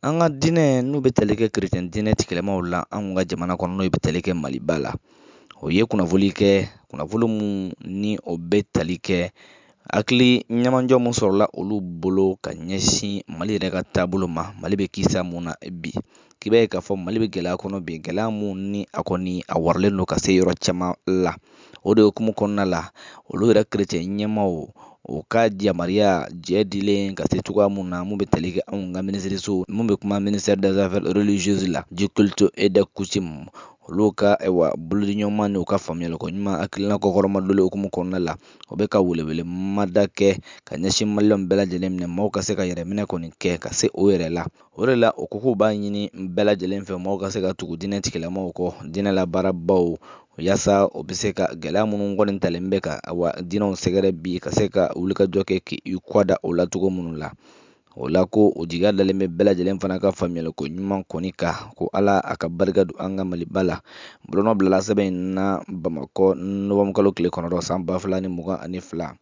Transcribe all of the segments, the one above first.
An ka diinɛ n'u bɛ tali kɛ kerecɛn diinɛ tigilamaw la an kun ka jamana kɔnɔ n'o bɛ tali kɛ maliba la o ye kunnafoli kɛ kunnafoni minnu ni o bɛ tali kɛ hakili ɲɛmajɔ min sɔrɔla olu bolo ka ɲɛsin mali yɛrɛ ka taabolo ma mali bɛ kisa mun na bi k'i b'a ye k'a fɔ mali bɛ gɛlɛya kɔnɔ bi gɛlɛya minnu ni a kɔni a waralen don ka se yɔrɔ caman la o de hukumu kɔnɔna la olu yɛrɛ kerecɛn ɲɛmaaw u ka yamaruya jɛ dilen ka se cogoya mun na mun bɛ tali kɛ anw ka minisiriso mun bɛ kuma ministère des affaires religieuses la du culte et des coutumes olu ka u bolodiɲɔgɔnma n'u ka faamuyaliko ɲuman hakilina kɔkɔrɔmadonni hukumu kɔnɔna la o bɛ ka welewele mada kɛ ka ɲɛsin maliyɛnw bɛɛ lajɛlen minɛ maaw ka se ka yɛrɛ minɛ kɔni kɛ ka se o yɛrɛ la o de la o ko k'u b'a ɲini bɛɛ lajɛlen fɛ maaw ka se ka tugu diinɛ tigilamaw kɔ diinɛ labaarabaw Yasa u bɛ se ka gɛlɛya minnu kɔni talen bɛ ka wa diinɛw sɛgɛrɛ bi ka se ka wulikajɔ kɛ k' i kɔda o la cogo minnu la o la ko o jigiya dalen bɛ bɛɛ lajɛlen fana ka faamuyaliko ɲuman kɔni kan ko ala a ka barika don an ka maliba la bolonɔ bilala sɛbɛn in na bamakɔ nowanburukalo tile kɔnɔntɔn san ba fila ni mugan ani fila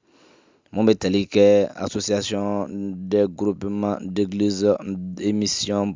minnu bɛ tali kɛ association des groupements d'églises et missions